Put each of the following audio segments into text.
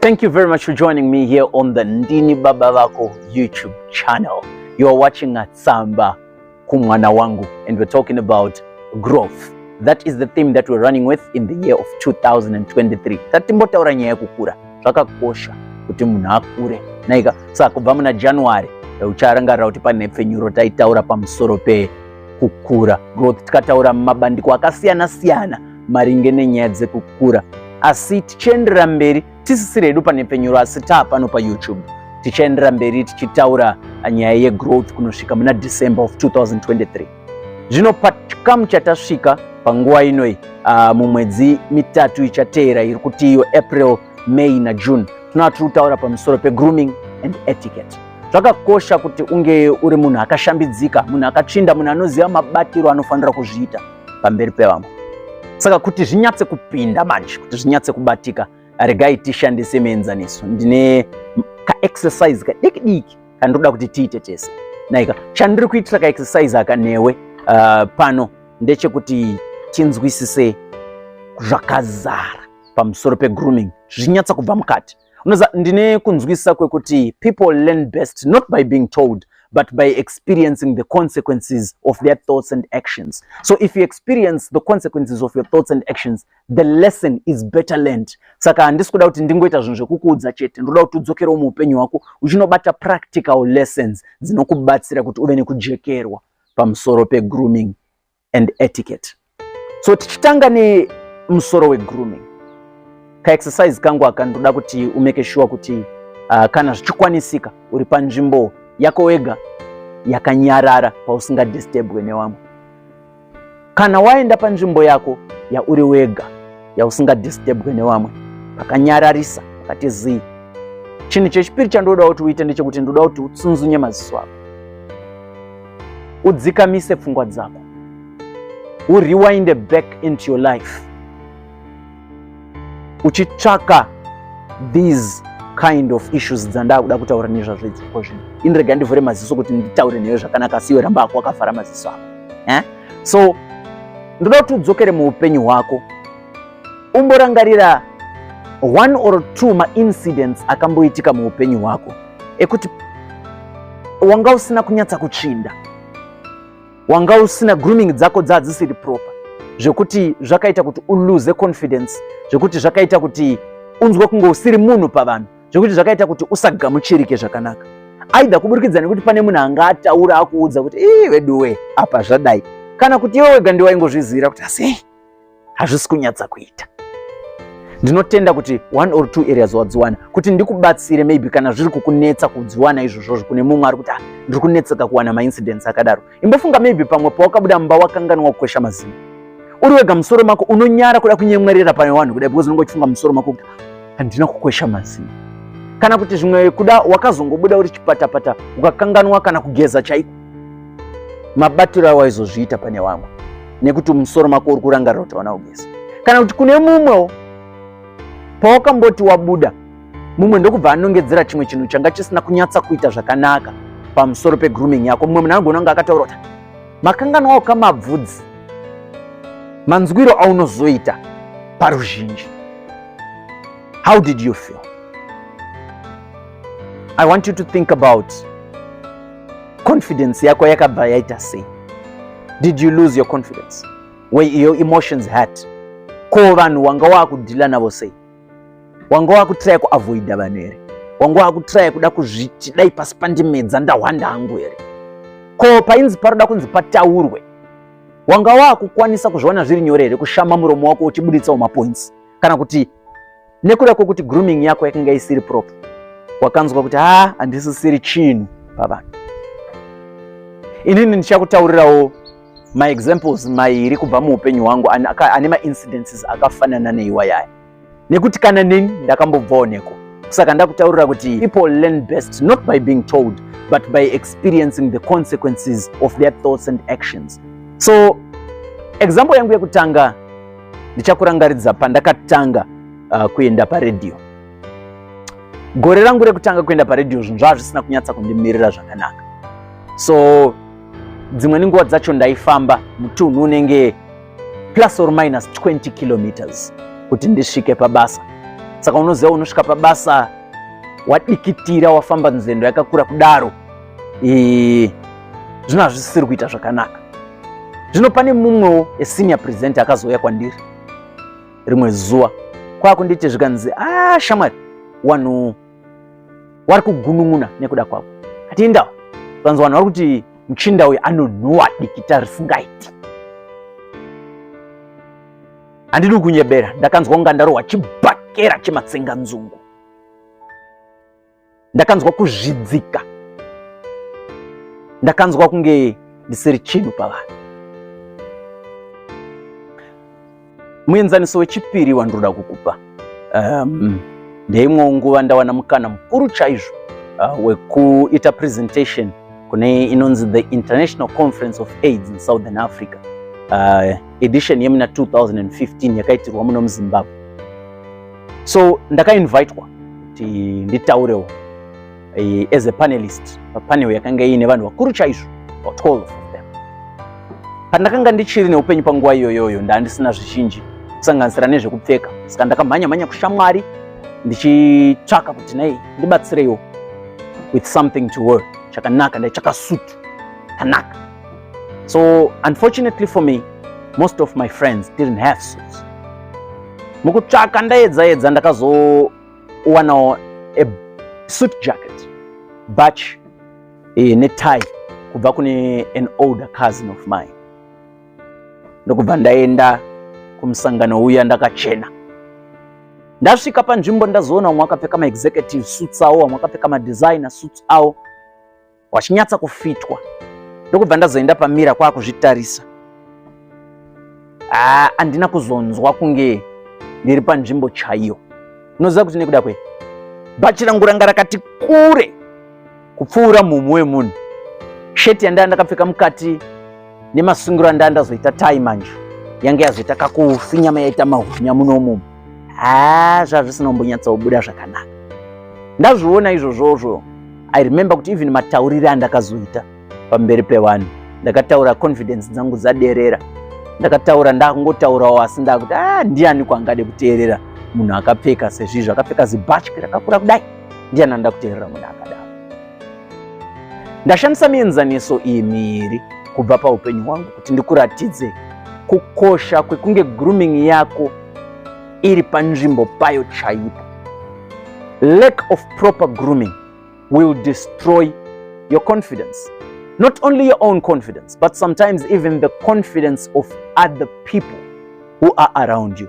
Thank you very much for joining me here on the Ndini Baba Vako YouTube channel. You are watching at Samba Kumwana Wangu and we're talking about growth. That is the theme that we're running with in the year of 2023. Tatimbotaura nyaya yekukura. Zvakakosha kuti munhu akure. Naika saka kubva muna January ucharangarira kuti pane pfenyuro taitaura pamusoro pekukura growth tikataura mumabandiko akasiyana siyana maringe nenyaya dzekukura asi tichienderera mberi tisisiri hedu pane penyuro asi taa pano payoutube tichaenderera mberi tichitaura nyaya yegrowth kunosvika muna december of 2023 zvino pachikamu chatasvika panguva inoi uh, mumwedzi mitatu ichateera iri kuti iyo april may najune tinova tiri kutaura pamusoro pegrooming and etiquette zvakakosha kuti unge uri munhu akashambidzika munhu akatsvinda munhu anoziva mabatiro anofanira kuzviita pamberi pevamwe. Saka kuti zvinyatse kupinda manje, kuti zvinyatse kubatika, regai tishandise mienzaniso. Ndine kaexercise kadiki diki kandoda kuti tiite tese. Naika, chandiri kuitira kaexercise aka newe uh, pano ndechekuti tinzwisise zvakazara pamusoro pegrooming zvinyatsa kubva mukati unoza ndine kunzwisisa kwekuti people learn best not by being told but by experiencing the consequences of their thoughts and actions. So if you experience the consequences of your thoughts and actions, the lesson is better learned. Saka handisi kuda kuti ndingoita zvinhu zvekukuudza chete, ndoda kuti udzokerewo muupenyu hwako uchinobata practical lessons dzinokubatsira kuti uve nekujekerwa pamusoro pegrooming and etiquette. So tichitanga nemusoro wegrooming, kaexercise kangu aka ndoda kuti umeke shuwa kuti uh, kana zvichikwanisika uri panzvimbo yako wega yakanyarara pausingadistebwe nevamwe. Kana waenda panzvimbo yako yauri wega yausingadistebwe nevamwe pakanyararisa pakati zii chinhu chechipiri chandoda kuti uite ndechekuti ndoda kuti utsunzunye maziso ako udzikamise pfungwa dzako uriwinde back into your life uchitsvaka these kind of issues dzandakuda kutaura nezvazvo idzi ko zvino ini rega ndivhure maziso kuti nditaure newe zvakanaka siwe ramba ako wakavhara maziso ako eh? so ndoda kuti udzokere muupenyu hwako Umborangarira one or two maincidents akamboitika muupenyu hwako ekuti wanga usina kunyatsa kutsvinda, wanga usina grooming dzako dzadzisiri proper zvekuti zvakaita kuti uluze confidence, zvekuti zvakaita kuti unzwe kunge usiri munhu pavanhu, zvekuti zvakaita kuti usagamuchirike zvakanaka, aidha kuburikidza nekuti pane munhu anga ataura akuudza kuti ii veduwe apa zvadai, kana kuti iwe wega ndiwaingozvizivira kuti asi hazvisi kunyatsa kuita ndinotenda kuti one or two areas wadziwana kuti ndikubatsire maybe kana zviri kukunetsa kudziwana izvozvozvo kune mumwe ari kuti ah, ndiri kunetseka kuwana maincidents akadaro imbofunga maybe pamwe pawakabuda mumba wakanganwa kukwesha mazino uri wega musoro mako unonyara kuda kunyemwerera pane vanhu kudai because unenge uchifunga musoro mako kuti handina kukwesha mazino kana kuti zvimwe kuda wakazongobuda uri chipatapata ukakanganwa kana kugeza chaiko mabatiro awaizozviita pane vamwe nekuti mumusoro mako uri kurangarira kuti hauna kugeza kana kuti kune mumwewo pawakamboti wabuda mumwe ndokubva anongedzera chimwe chinhu changa chisina kunyatsa kuita zvakanaka pamusoro pegrooming yako mumwe munhu anogona kunge akataura kuti makanganwawo kamabvudzi manzwiro aunozoita paruzhinji how did you feel i want you to think about confidence yako yakabva yaita sei did you lose your confidence were your emotions hurt ko vanhu wanga waakudhila navo sei wanga wakutraya kuavoida vanhu here wanga wakutraya kuda kuzviti dai pasi pandimedza ndahwanda hangu here ko painzi paroda kunzi pataurwe wanga waakukwanisa kuzviona zviri nyore here kushama muromo wako uchibuditsawo mapoints kana kuti nekuda kwokuti grooming yako yakanga isiri prop wakanzwa kuti haa ah, handisisiri chinhu pavanhu inini ndichakutaurirawo maexamples mairi kubva muupenyu hwangu ane maincidences akafanana neiwayaya nekuti kana neni ndakambobvawo neko saka ndakutaurira kuti people learn best not by being told but by experiencing the consequences of their thoughts and actions so example yangu yekutanga ndichakurangaridza pandakatanga uh, kuenda paredhiyo gore rangu rekutanga kuenda paredhiyo zvinhu zvava zvisina kunyatsa kundimirira zvakanaka so dzimwe nenguva dzacho ndaifamba mutunhu unenge plus or minus 20 kilometers kuti ndisvike pabasa saka unoziva unosvika pabasa wadikitira wafamba nzendo yakakura kudaro Eee, zvino hazvisisiri kuita zvakanaka. Zvino pane mumwewo esenior presenter akazouya kwandiri rimwe zuva kwakunditi zvikanzi a ah, shamwari wanhu wari kugunun'una nekuda kwavo atiindawo vanzi vanhu vari kuti muchinda uyu anonhuwa dikita risingaiti handidi kunyebera ndakanzwa kunga ndarohwa chibhakera chematsenganzungu ndakanzwa kuzvidzika ndakanzwa kunge ndisiri chinhu pavanhu muenzaniso wechipiri wandinoda kukupa um, ndeimwewo nguva ndawana mukana mukuru chaizvo uh, wekuita presentation kune inonzi the international conference of aids in southern africa uh, edition yemuna 2015 yakaitirwa muno muzimbabwe so ndakainvitwa kuti nditaurewo eh, as a panelist papanel yakanga iine vanhu vakuru chaizvo about 12 of them pandakanga ndichiri neupenyu panguva iyoyoyo ndaandisina zvizhinji kusanganisira nezvekupfeka saka ndakamhanya mhanya kushamwari ndichitsvaka kuti nei ndibatsireiwo with something to work chakanaka ndaitsvaka sutu kanaka So unfortunately for me, most of my friends didn't have suits. Mukutsvaka ndaedza edza ndakazowanawo a suit jacket, batch eh, ne tie kubva kune an older cousin of mine. Ndokubva ndaenda kumusangano uya ndakachena ndasvika panzvimbo ndazoona vamwe vakapfeka maexecutive suits awo vamwe vakapfeka madesigner suits awo wachinyatsa kufitwa ndokubva ndazoenda pamira kwakuzvitarisa haa andina kuzonzwa kunge ndiri panzvimbo chaiyo unoziva kuti nekuda kwe bhachi rangu ranga rakati kure kupfuura mumhu wemunhu sheti yandaya ndakapfeka mukati nemasungiro anda ndazoita tai manje yange yazoita kakufi nyama yaita mahunya munomu haa zvazvisina kumbonyatsobuda zvakanaka ndazviona izvozvozvo i remember kuti even mataurire andakazoita pamberi pevanhu ndakataura confidence dzangu dzaderera ndakataura ndakungotaurawo asi ndakuti a ah, ndiani kwangade kuteerera munhu akapfeka sezvizvo akapfeka zibhatyi rakakura kudai ndiani anoda kuteerera munhu akadaro Ndashandisa mienzaniso iyi miiri kubva paupenyu hwangu kuti ndikuratidze kukosha kwekunge grooming yako iri panzvimbo payo chaipo. Lack of proper grooming will destroy your confidence. Not only your own confidence, but sometimes even the confidence of other people who are around you.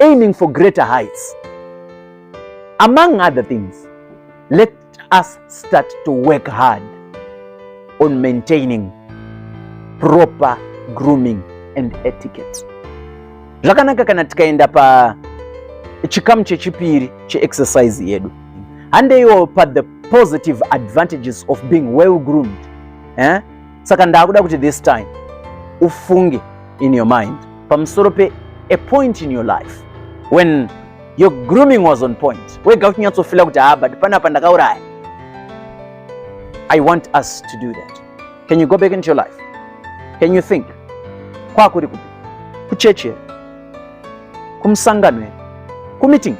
aiming for greater heights. Among other things, let us start to work hard on maintaining proper grooming and etiquette. Zvakanaka kana tikaenda pa chikamu chechipiri cheexercise yedu handeiwo pa the positive advantages of being well groomed eh? saka ndakuda kuti this time ufunge in your mind pamusoro pe a point in your life when your grooming was on point wega uchinyatsofila kuti haa ah, but panapa ndakauraya i want us to do that can you go back into your life can you think kwakuri kupi kuchechi here kumusangano here kumeeting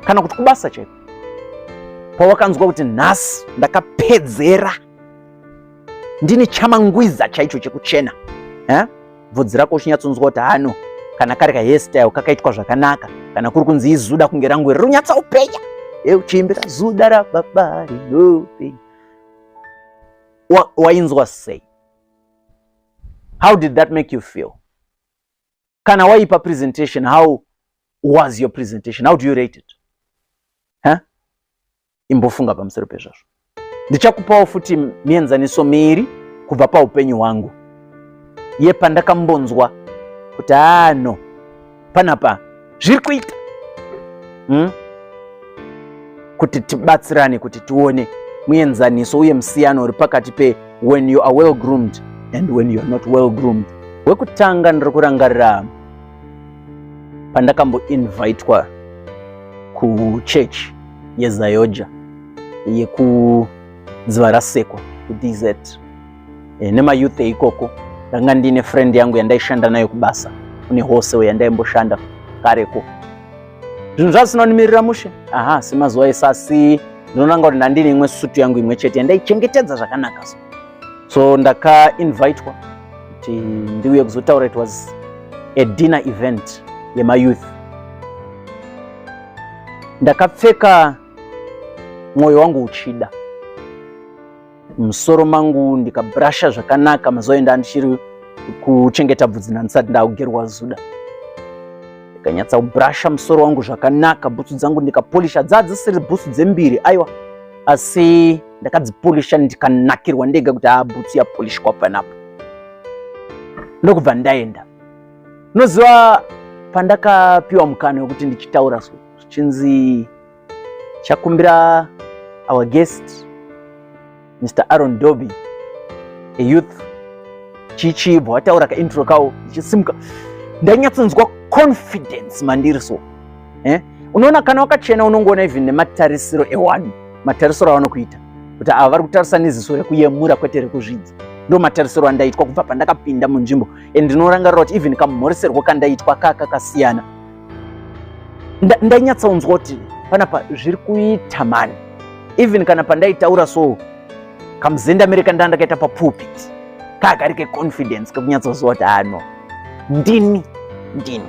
kana kuti kubasa chete pawakanzwa kuti nhasi ndakapedzera ndini chamangwiza chaicho chekuchena eh? bvudzi rako uchinyatsonzwa kuti hano kana kari kahestyle kakaitwa zvakanaka kana kuri kunzi izuda kunge rangu iri runyatsa upenya e uchiimbira zuda rababa rinopenya wainzwa sei how did that make you feel kana waipa presentation how was your presentation how do you rate it imbofunga pamusoro pezvazvo ndichakupawo futi mienzaniso miiri kubva paupenyu hwangu ye pandakambonzwa kuti ano panapa zviri kuita hmm? kuti tibatsirane kuti tione muenzaniso uye musiyano uri pakati pe when you are well groomed and when you are not well groomed wekutanga ndiri kurangarira pandakamboinvitwa kuchurch yezayoja yekudziva rasekwa kudz e, eh, nemayouth eikoko ndanga ndiine friend yangu yandaishanda nayo kubasa kune hose yandaimboshanda kareko zvinhu zvasinonimirira mushe aha semazuva esasi ndinonanga kuti ndandine imwe sutu yangu imwe chete yandaichengetedza zvakanaka so so ndakainvitwa kuti ndiuye kuzotaura it was a dinner event yemayouth ndakapfeka mwoyo wangu uchida musoro mangu ndikabrasha zvakanaka mazoenda ndichiri kuchengeta bvudzi nandisati ndakugerwa zuda ndikanyatsa kubrasha musoro wangu zvakanaka bhutsu dzangu ndikapolisha dzadzisiri bhutsu dzembiri aiwa asi ndakadzipolisha ndikanakirwa ndega kuti haa bhutsu yapolishwa panapo ndokubva ndaenda unoziva pandakapiwa mukana wekuti ndichitaura so zvichinzi chakumbira our guest mr aron doby a youth chichibva wataura kaintro kawo ndichisimuka ndanyatsonzwa confidence mandiri so eh? Unoona kana wakachena unongoona even nematarisiro ewanhu, matarisiro avanokuita kuti ava vari kutarisa neziso rekuyemura kwete rekuzvidza. Ndo matarisiro andaitwa kubva pandakapinda munzvimbo and ndinorangarira kuti even kamhoriserwo kandaitwa kaka kasiyana. Ndainyatsaunzwa kuti panapa zviri kuita mani, even kana pandaitaura so kamuzendamire kandanga ndakaita papulpit kaka kari keconfidence kekunyatsoziva kuti ano ndini ndini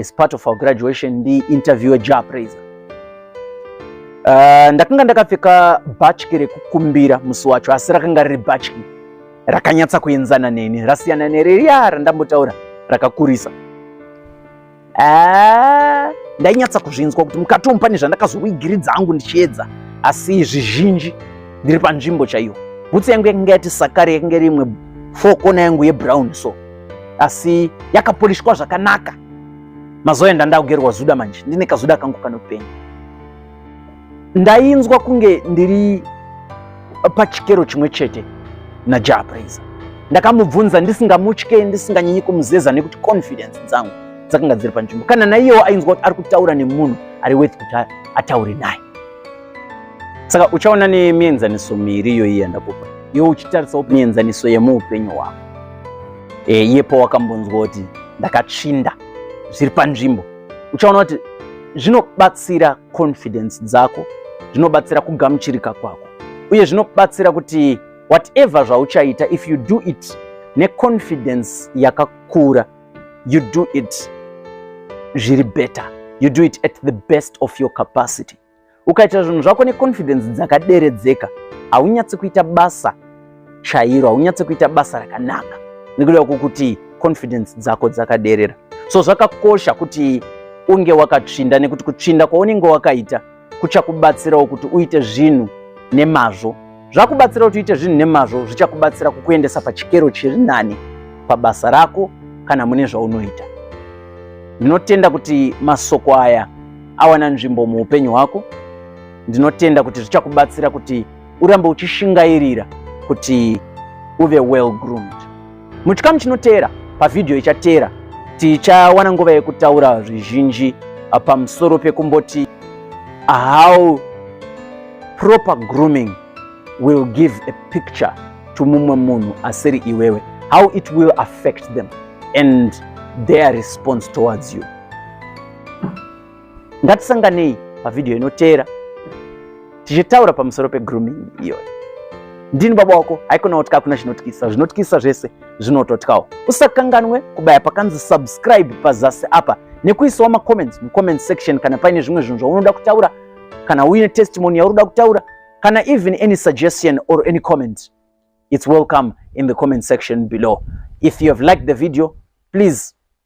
as part of our graduation ndi interviewer Jah Prayzah. Uh, ndakanga ndakapfeka bhatyi rekukumbira musi wacho asi rakanga riri bhatyi rakanyatsa kuenzana neni rasiyana nereriya randambotaura rakakurisa. Ah, ndainyatsa kuzvinzwa kuti mukati umu pane zvandakazowigiridza hangu ndichiedza asi zvizhinji ndiri panzvimbo chaiyo. Bhutsu yangu yakanga yati sakare yakanga rimwe four kona yangu yebrown so asi yakapolishwa zvakanaka mazuva enda ndakugerwa zuda manje ndine kazuda kangu kanopenga ndainzwa kunge ndiri pachikero chimwe chete najah praiser ndakamubvunza ndisingamutye ndisinganyanyi kumuzeza nekuti confidence dzangu dzakanga dziri panzvimbo kana naiyewo ainzwa kuti ari kutaura nemunhu ari worth kuti ataure naye saka uchaona nemienzaniso miiri iyoyi yandakupa iwe uchitarisao mienzaniso yemuupenyu hwako e, iye pawakambonzwa kuti ndakatsvinda zviri panzvimbo uchaona kuti zvinobatsira confidence dzako zvinobatsira kugamuchirika kwako uye zvinobatsira kuti whatever zvauchaita if you do it neconfidence yakakura you do it zviri better you do it at the best of your capacity Ukaita zvinhu zvako neconfidence dzakaderedzeka, haunyatsi kuita basa chairo, haunyatsi kuita basa rakanaka nekuda kwokuti confidence dzako dzakaderera. So zvakakosha kuti unge wakatsvinda nekuti kutsvinda kwaunenge wakaita kuchakubatsirawo kuti uite zvinhu nemazvo Zvakubatsira kuti uite zvinhu nemazvo zvichakubatsira kukuendesa pachikero chiri nani pabasa rako kana mune zvaunoita. Ndinotenda kuti masoko aya awana nzvimbo muupenyu hwako. Ndinotenda kuti zvichakubatsira kuti urambe uchishingairira kuti uve well groomed. Muchikamu chinoteera pavhidhiyo ichateera tichawana nguva yekutaura zvizhinji pamusoro pekumboti how proper grooming will give a picture to mumwe munhu asiri iwewe how it will affect them and their response towards you Ngatisanganei pavhidhiyo inoteera tichitaura pamusoro pegrooming iyoyo. Ndini baba wako, haikona kuti kakuna chinotyisa, zvinotyisa zvese zvinototyawo. Usakanganwe kubaya pakanzi subscribe pazasi apa nekuisawo macomments mucomment section kana paine zvimwe zvinhu zvaunoda kutaura kana uine testimony yaunoda kutaura kana even any suggestion or any comment it's welcome in the comment section below if you have liked the video please